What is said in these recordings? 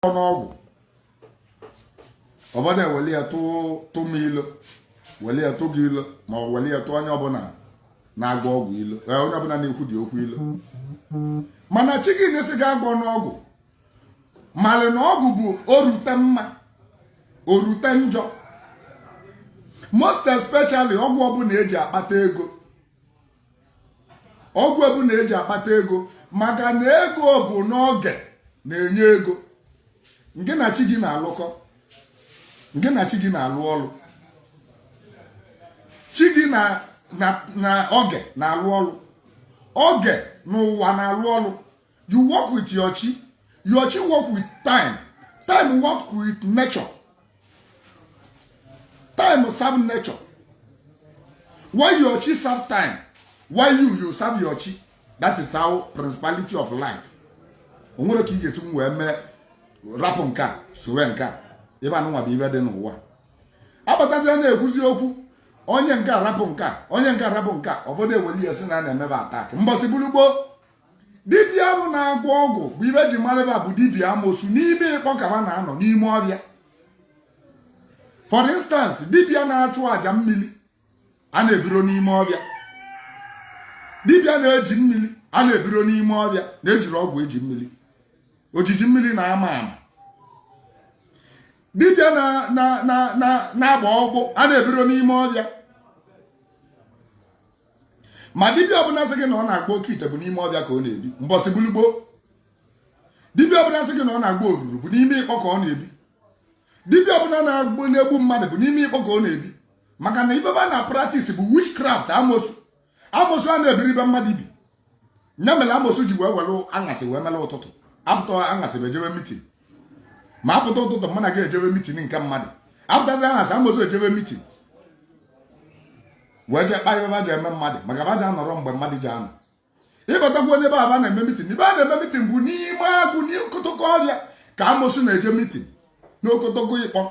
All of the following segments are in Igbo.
ọ n'ọgwụ ụbọdụ eweli ya tụ m ilo weli ya tụ gị ilo ma ọ weli ya tụ onye ọbụla na-agwọ ọgwụ ilo eh, onye ọbụla na-ekwu eziokwu ilo mana chi gị na-asị gị agwọna ọgwụ malị na ọgwụ bụ orute mma orute njọ most especially ọgwụ ọbụla eji akpata ego ọgwụ ọbụna eji akpata ego maka na ego bụ na oge na-enye ego ngị na chi gị na-alụkọ ngị na chi gị na-alụ ọrụ chi gị na oge na-alụ ọrụ oge na ụwa na-alụ ọrụ you work with your chi your chi work with time time work with nature time serve nature while your chi serve time while you you serve your chi that is how principality of life o nwere ka ị ga-esi wee mee rapụ nke a sowe nke a ebe anụnwa bụ ibe dị n'ụwa abatazie na-ekwuzi okwu onye nke a rapụ nke a onye nke a rapụ nke a ụbọdụ eweli ya si na a na-eme ba attack mbọsị bụrụ gboo dibịa ahụ na-agwọ ọgwụ bụ ibe e ji marị ba bụ dibịa amosu n'ime ịkpọ ka ba na-anọ n'ime ọbịa for instance dibịa na-achụ àjà mmiri a na-ebiro n'ime ọbịa dibịa na-eji mmiri a na-ebiro n'ime ọbịa na-ejiro ọgwụ eji mmiri ojiji mmiri na-ama ama dibịa na-agba ọgwụ a na-ebiro n'ime ọbịa ma dibịa ọbụla sị gị na ọ na-agwọ oke ite bụ n'ime ọbịa ka ọ na-ebi mbọsị bụlụ gboo dibịa ọbụla sị gị na ọ na-agwọ oruru bụ n'ime ịkpọ ka ọ na-ebi dibịa ọbụla na-agwọlụ egbu mmadụ bụ n'ime ịkpọ ka ọ na-ebi maka na ibe ba na-practice bụ witchcraft amosu amosu a na-ebiro ibe mmadụ ibi nya mere amosu ji wee were aṅasị wee mere ụtụtụ apụta aṅasị ba ejebe meeting ma apụta ụtụtụ mụ na gị ejebe meeting nke mmadụ apụtazi aṅasị amosu ejebe meeting wee jee kpa ibe ba ja-eme mmadụ maka ba ja-anọrọ mgbe mmadụ ji anọ ịbatakwunye ebe ba na-eme meeting ibe ba na-eme meeting bụ n'ime agụ n'okotoko ọhịa ka amosu na-eje meeting n'okotoko ịkpọ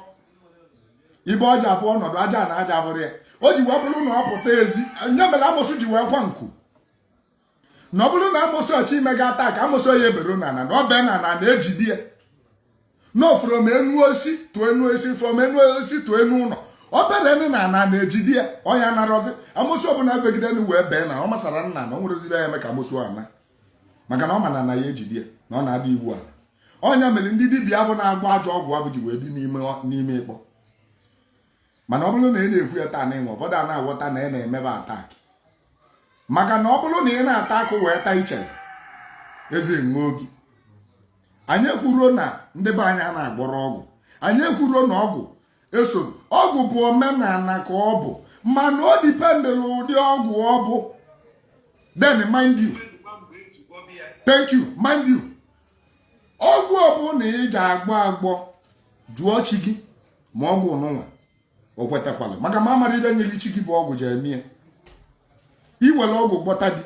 ibe ọ ja-abụ ọ nọdụ aja ana ja-abụrọ ya o ji wee bụrụ na ọ pụta ezi nya mere amosu ji wee kwa nku na ọ bụrụ na amosu achọ ime gị attack amosu ya ebero n'ana na ọ bee n'ana ana ejide ya no from enu osisi to enu osisi from enu osisi to enu ụlọ ọ bere nị n'ana ana ejide ya ọ nya narọzi amosu ọbụla begide enu wee bee na ọ masara n'ana na o nwerozi ibe ya-eme ka amosu ana maka na ọ mana na ya ejide ya na ọ na-ada iwu ala ọ nya mere ndị dibịa abụ na-agwọ ajọ ọgwụ abụ ji wee bi n'ime ikpa mana ọ bụrụ na ị na-ekwu ya taa na ịnwe ụfọdụ a na-aghọta na ị na-emebe attack maka na ọ bụrụ na ị na-ata akụ wee taa ichere eze egbuo gị anyị ekwuro na ndị be anyị a na-agwọrọ ọgwụ anyị ekwuro na ọgwụ esoro ọgwụ bụ omenala ka ọ bụ mana ọ dependịrị ụdị ọgwụ ọ bụ then mind you thank you mind you ọgwụ ọbụla ị ji agwọ agwọ jụọ chi gị ma ọgwụ nụnwa o kwetakwala maka ma amara ibe nyere chi gị bụ ọgwụ ji eme ya i were ọgwụ gwọta di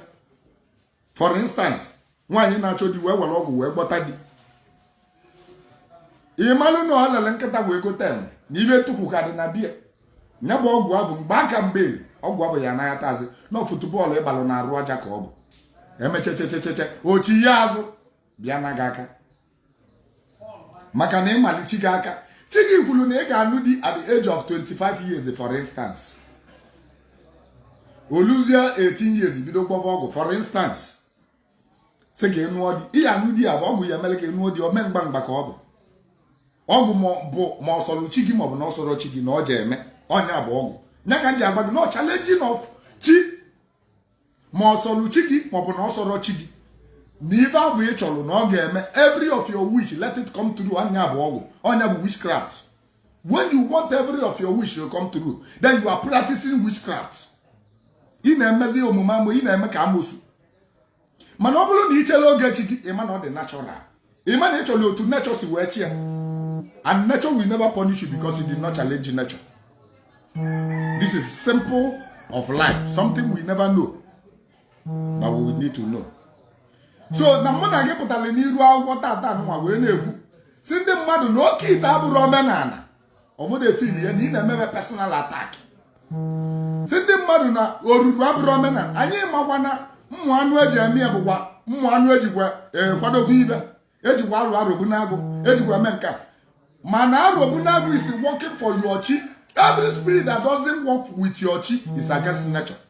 for instance nwaanyị na-achọ di wee were ọgwụ wee gwọta di ị malụ na o lere nkịta wee gote enwe na ibe ntukwu ka dị na be ya nya bụ ọgwụ abụ mgbe ka mgbe ọgwụ abụ ya anaghị atazi na futubọọlụ ịgbalụ na arụ aja ka ọ bụ emechechechecheche o chie azụ bịa na gị aka maka na ị malị chi gị aka chi gị kwuru na ị ga-anụ di at the age of 25 years for instance o luzie 18 years i bido gwọba ọgwụ for instance sị ka ị nụọ di ị ya-anụ di ya bụ ọgwụ ya mere ka ị nụọ di ome ngwa ngwa ka ọ bụ ọgwụ bụ ma ọ sọrọ chi gị ma ọ bụ na ọ sọrọ chi gị na ọ je-eme ọ nya bụ ọgwụ nya ka m ji agwa gị na ọ challenging of chi ma ọ sọrọ chi gị maọbụ na ọ sọrọ chi gị na ibe abụ ị chọrọ na ọ ga-eme every of your wish let it come true ọ nya bụ ọgwụ ọ nya bụ witchcraft when you want every of your wish to come true then you are practicing witchcraft ị na-emezi omume amo ị na-eme ka amosu mana ọ bụrụ na i chela oge chi gị ị ma na ọ dị natural ị ma na ị chọrọ otu nature si wee chi ya and nature will never punish you because you did not challenge nature this is simple of life something we never know but we need to know so na mụ na gị pụtara n'iru akwụkwọ tata nwa wee na-ekwu sị ndị mmadụ na oke ite abụrọ omenala ụfọdụ e feel ya na ị na-emebe personal attack sị ndị mmadụ na oruru abụrọ omenala anyị makwa na ụmụ anụ eji eme ya bụkwa ụmụ anụ ejikwa eh, kwadobe ibe ejikwa alụ Arobunagụ ejikwa eme nke a mana Arobunagụ is working for your chi every spirit that doesn't work with your chi is against nature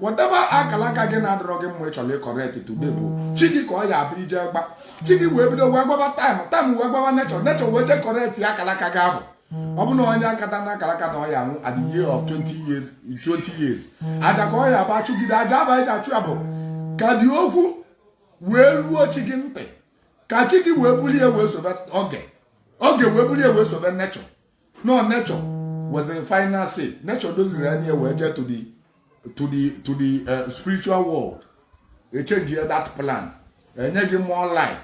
whatever akara aka gị na-adịrọ gị mma ị chọrọ ịcorrect today bụ chi gị ka ọ ya-abụ i jee gwa chi gị wee bido wee gbaba time time wee gbaba nature nature wee jee correct ya akara aka gị ahụ ọ bụ na onye akata n'akara aka na ọ ya-anwụ at the year of 20 years 20 years aja ka ọ ya-abụ a chụgide aja abụ eji achụ ya bụ ka dị okwu wee ruo chi gị ntị ka chi gị wee bulie wee sobe oge oge wee bulie wee sobe nature no nature was the final say nature doziri ya niile wee jee to the to the to the uh, spiritual world echenji ya that plan enye gị more life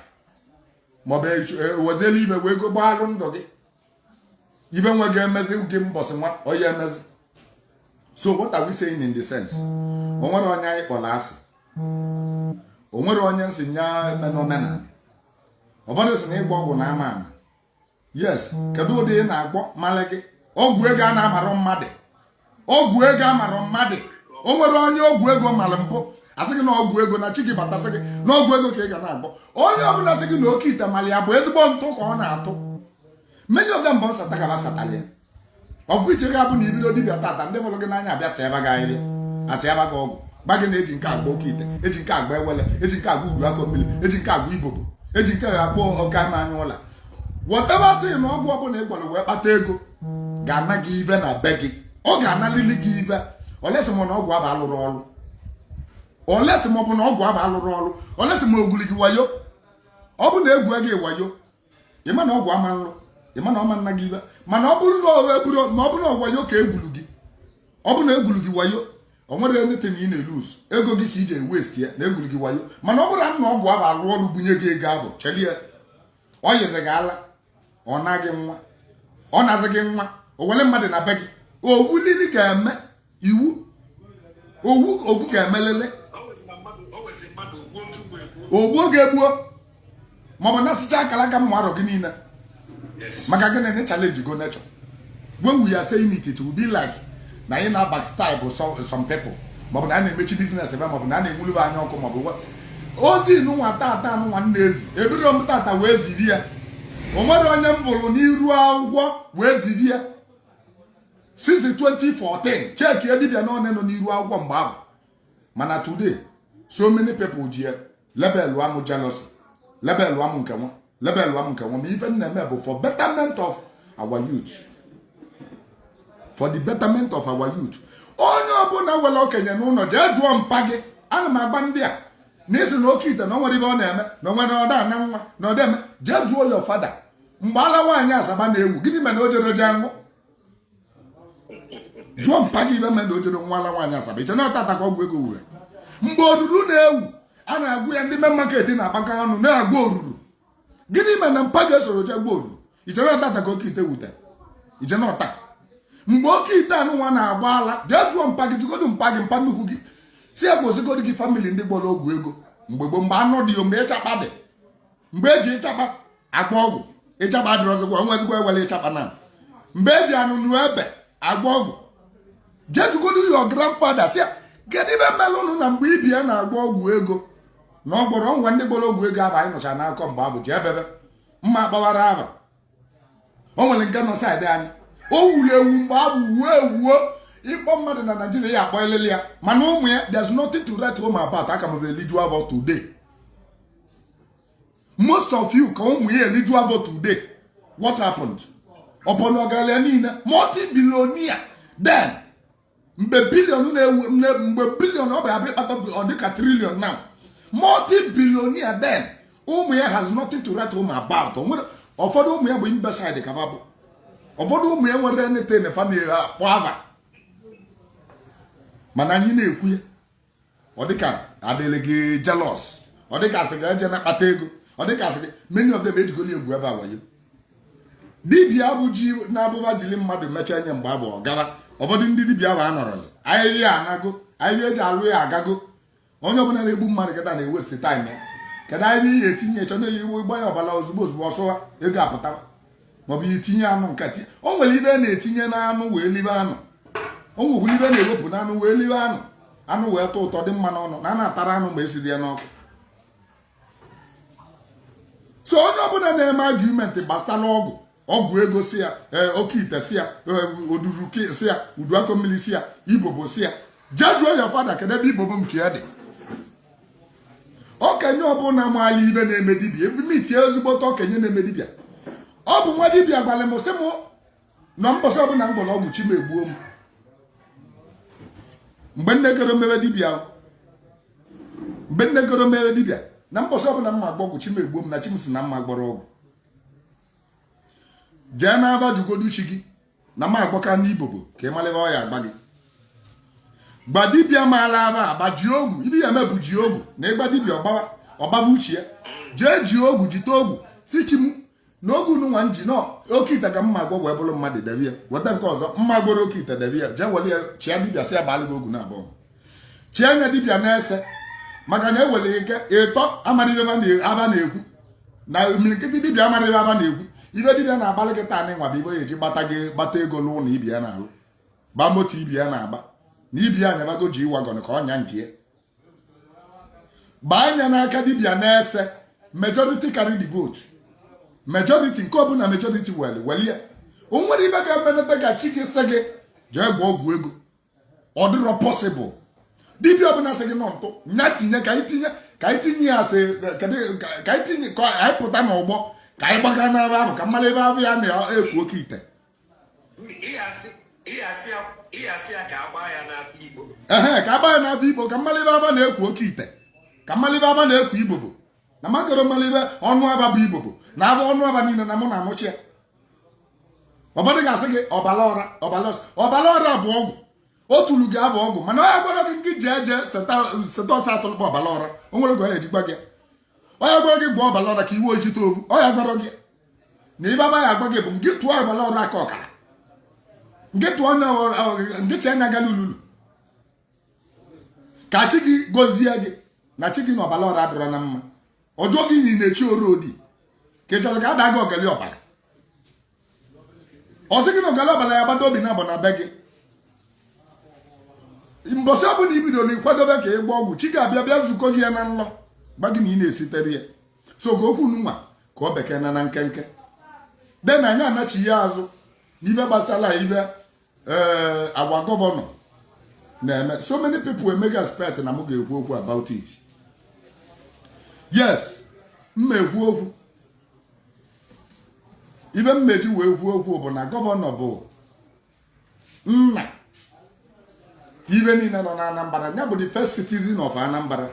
maọbụ ewezela ibe wee go gbaalụ ndụ gị ibe nwe ga-emezi gị mbọsị nwa onye emezi so what are we saying in the sense o nwere onye m kpọrọ asị o nwere onye m sị ya emena omenala ọ bụrụ sị na ịgba ọgwụ na ama ama yes kedu ụdị ị na-agbọ mali gị ọgwụ ego a na amarọ mmadụ ọgwụ ego amarọ mmadụ o nwere onye ọgwụ ego mali mpụ asị gị na ọgwụ ego na chi gị bata sị gị na ọgwụ ego ka ị ga na-agbọ onye ọbụla sị gị na oke ite mali ya bụ ezigbo ntụ ka ọ na-atụ many of them bụ nsata ka ha satara ya ọkụ iche ga-abụ na ibido dibịa tata ndị fụrụ gị n'anya abịa sịaba gị ahịrịa asịaba gị ọgwụ gwa gị na eji nke agba oke ite eji nke agba awele eji nke agba udu akọ mmiri eji nke agba ibobo eji nke agba ọka ma anya ụla whatever thing na ọgwụ ọbụla ị gbọrọ wee kpata ego ga-ana gị ibe na be gị ọ ga-analili gị ibe unless ma na ọgwụ aba alụrọ ọrụ unless ma ọ bụ na ọgwụ aba alụrọ ọrụ unless ma o gwuli gị wayo ọ bụ na egwu gị wayo ịma na ọgwụ ama nlụ ịma na ọ ma nna gị ibe mana ọ bụrụ na ọwa eburu ma ọ bụrụ na ọ wayo ka egwuru gị ọ bụrụ na egwuru gị wayo o nwerọ anything ị na-elose ego gị ka iji ewaste ya na egwuru gị wayo mana ọ bụrụ na ọgwụ aba alụ ọrụ bunye gị ego ahụ chelie ọ yizi gị ala ọ na gị nwa ọ nazị gị nwa o were mmadụ na be gị owu lili ga-eme iwu owu ga-emelele o gbuo gị egbuo maọbụ nasịcha akara aka mma arọ gị niile maka gịnị na challenge go nature when we are saying it it will be like na anyị na backstab some people maọbụ na a na-emechi business ebe maọbụ na a na-enwulube anya ọkụ maọbụ ozi nwa tata nwa m na-ezi ebiro m tata wee ziri ya o nwere onye m bụrụ n'iru akwụkwọ wee ziri ya since 2014 check ya dibịa one nọ n'iru akwụkwọ mgbe ahụ mana today so many people ji ya lebelụ amụ jealousy lebelụ amụ nke nwa lebelụ amụ nke nwa ma ife na-eme bụ for betterment of our youth for the betterment of our youth onye ọbụla nwere okenye n'ụlọ jee jụọ mpa gị ana m agwa ndị a na-asị na oke ite na ọ nwere ibe ọ na-eme na onwere ọda na nwa na ọdeme jee jụọ your father mgbe ala nwaanyị asaba na-ewu gịnị mere na o jere jee nwụ jụọ mpa gị ibe mere na o jere nwụ ala nwaanyị asaba iche na tata ka ọgwụ ego wure mgbe oruru na-ewu a na-agwa ya ndị main market na-akpakọ ọnụ na-agbọ oruru gịnị mere na mpa gị esorọ je gbọ oruru iche na tata ka oke ite wutere iche na ọta mgbe oke ite anụ nwa na-agba ala jee jụọ mpa gị jụgodu mpa gị mpa nnukwu gị sị ya gosigodu gị family ndị gbọrọ ọgwụ ego mgbe gboo mgbe anụ dị ya mgbe ịchakpa dị mgbe eji ịchakpa agba ọgwụ ịchakpa adịrọzikwa nwezikwa ewere ịchakpa na mgbe eji anụnụ ebe agba ọgwụ jee jụgodu your grandfather sị ya kedu ibe melụ ụnụ na mgbe ibe ya na-agba ọgwụ ego na ọ gwọrọ ngwa ndị gbọrọ ọgwụ ego ahụ anyị nọcha na-akọ mgbe ahụ ji ebebe mma gbawara aba o nwere nke nọ side anyị o wuru ewu mgbe a wuo ewuo ị kpọ mmadụ na naijiria ya-akpọlịlị ya mana ụmụ ya there's nothing to write home about aka m eliju avọ today most of you ka ụmụ ya eliju avọ today what happened ọ bụ na ọgaranya niile multi-billionaire then mgbe billion na-ewu mgbe billion ọ bụ abịa ịkpata ọ dịka trillion now multi billionaire then ụmụ ya has nothing to write home about ụfọdụ ụmụ ya bụ imbecile ka ba bụ ụfọdụ ụmụ ya nwere anything fa na-akpọ aba mana anyị na-ekwu ya ọ dịka adịrị gị jealous ọ dịka a sị gị ejena akpata ego ọ dịka a sị gị many of them ejigolo egwu ebe a wayo dibia abụ ji na-abụba jiri mmadụ mechaa nye mgbe abụ ọ gara ụfọdụ ndị dibia ahụ anọrọzi ahịhịa anago ahịhịa eji alụ ya agago onye ọbụla na-egbu mmadụ kịta na-ewaste time ya kedu ahịhịa ihe etinye chọ na-eyi iwu ịgba ya ọbara ozugbo ozugbo ọ sụwa ego apụtawa maọbụ ya etinye anụ nkịtị o nwere ibe na-etinye n'anụ wee libe anụ o nwekwara ibe na-ewepụ n'anụ wee libe anụ anụ wee tọ ụtọ dị mma n'ọnụ na a na-atara anụ ma esiri ya n'ọkụ so onye ọbụla na-eme argument gbasara ọgwụ ọgwụ ego sị ya eh, oke ite sị ya eh, oduru sị ya udu akọ mmiri sị ya ibobo sị ya jee jụọ your father kedụ ebe ibobo nke ya dị okenye ọbụla maalụ ibe na-eme dibia ebumiti ezigbote okenye na-eme dibia ọ bụ nwa dibia gwara m sị m na mbọsị ọbụla m gbọrọ ọgwụ chi m egbuo m mgbe nne goro mere dibia mgbe nne goro mere dibia na mbọsị ọbụla m ma agba ọgwụ chi m egbuo m na chi m sị na m ma-agbọrọ ọgwụ jee n'aba jụgodu chi gị na m agwaka ndị ibobo ka ị malụ ibe ọ ya-agwa gị gba dibịa maalụ aba agba ji ogu ibe ị ya-eme bụ ji ogu na ị gba dibịa ọ gbawa ọ gbaba uche ya jee ji ogu jite ogu sị chi m na ogu nụnwa m ji na oke ite ka m ma-agwọ wee bụrụ mmadụ debe ya weta nke ọzọ m ma-agwọrọ oke ite debe ya jee were ya chịa dibịa sị ya gbalụ gị ogu naabọ chie anya dibịa na-ese maka na o nwere ike ịtọ amarọ ibe aba na-ekwu na imirikiti dibịa amarọ ibe aba na-ekwu ibe dibịa na-agbalụ gị taa nụnwa bụ ibe ọ ya-eji gbata gị gbata ego n'ụlọ na ibe ya na-alụ gba moto ibe ya na-agba na ibe ya nyabago G-Wagon ka ọ nya nke ya gbaa anya n'aka dibịa na-ese majority carry the vote majority nke ọbụla majority weli weli ya o nwere ibe ga-emenata ka chi gị sị gị jee gwọọ ọgwụ ego ọ dịrọ possible dibia ọbụla sị gị nọ ntụ nya tinye ka anyị tinye ka anyị tinye ya sị ka anyị tinye ka anyị pụta n'ọgbọ ka anyị gbaga n'ebe ahụ ka amalị ibe ọ ya na-ekwu oke ite ehe ka agbaa ya n'afa igbo ka amalị ibe aba na-ekwu oke ite ka amalị ibe aba na-ekwu ibobo na m akọrọ mara ibe ọnụ aba bụ ibobo na abụ ọnụ aba niile na mụ na anụchi ya ụfọdụ ga-asị gị ọbara ọra bụ ọgwụ o tulu gị abụ ọgwụ mana onye gwara gị nke ji eje seta ose atụlụkpa ọbara ọra o nwere gị onye ejikwa gị onye gwara gị gwọ ọbara ọra ka iwe ijite ovu onye gwara gị na ibe aba ya agwa gị bụ nke tụọ ọbara ọra aka ọkara nke tụọ onye nke chi anya agali ululu ka chi gị gọzie gị na chi gị na ọbara ọra adịrọ na mma ọjọọ gị yi na-echi ọra odi ka ị chọrọ ka a daa gị ọgali ọbara ọ sị gị na ọgali ọbara ya gbata obi na abụ na be gị mbọsị ọbụla i bidoro ịkwadobe ka ị gba ọgwụ chi ga-abịa bịa zukọ gị ya na nlọ gba gị na ị na-esitere ya so ka okwu nwa ka ọ bekee na na nkenke then anyị anachigha azụ n'ibe gbasara ibe ee eh, our governor na-eme so many people emega expect na m ga-ekwu okwu about it yes m ma-ekwu okwu ibe m ma-eji wee kwuo okwu bụ na governor bụ nna ibe niile nọ n'Anambra ya bụ the first citizen of Anambra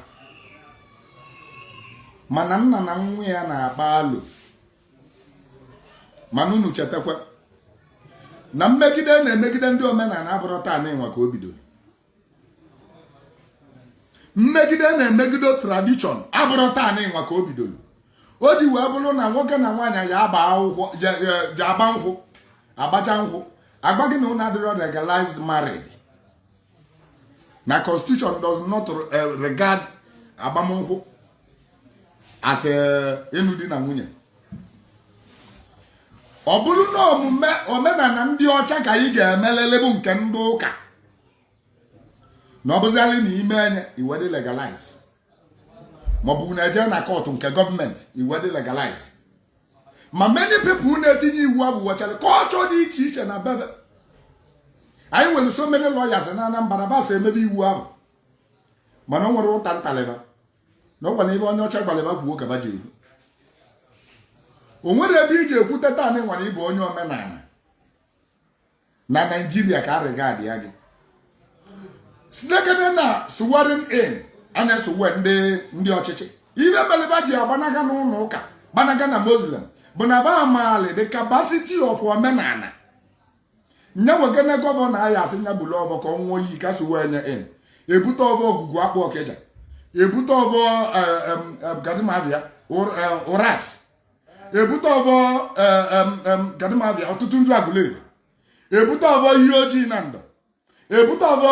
mana nna na nwa ya na-akpa alo mana unu chetakwa na mmegide na-emegide ndị omenala abụrọ taa n'ịnwa ka o bidoro mmegide na-emegide tradition abụrọ taa n'ịnwa ka o bidoro o ji wee bụrụ na nwoke na nwaanyị ya agba akwụkwọ je agba nkwụ agbacha nkwụ agwa gị na unu adịrọ legalized married na constitution does not eh, regard agbamnkwụ as ịnụ di na nwunye ọ bụrụ na ọọ omenala ndị ọcha ka anyị ga-emelele bụ nke ndị ụka na ọ bụzịalị na ime enye i wee dị legalize maọbụ na eje na kọtụ nke government i wee dị legalize ma many people na-etinye iwu ahụ nwechara culture dị iche iche na be ba anyị nwere so many lawyers na Anambra ba so emebe iwu ahụ mana o nwerọ ụta m talị ba na ọ kwanụ ibe onye ọcha gwara ba kwuo ka ba ji ekwu o nwerọ ebe iji ekwute taa na ịnwara ịbụ onye omenala na naijiria ka a regardịa gị sitekene na swearing in a na-eswear ndị ndị ọchịchị ibe mele ba ji agbanaga n'ụlọ ụka gbanaga na muslim bụ na ba amaali the capacity of omenala nye nwekene gọvanọ anyị asị nya buru ọvọ ka ọ nwụọ iyi ka a swear nya in ebute ọvọ ogwugwu akpụ ọkịja ebute ọvọ gadimabịa ụrat ebute ọvọ gadimabịa ọtụtụ nzu agụleri ebute ọvọ iyi ọjị na ndọ ebute ọvọ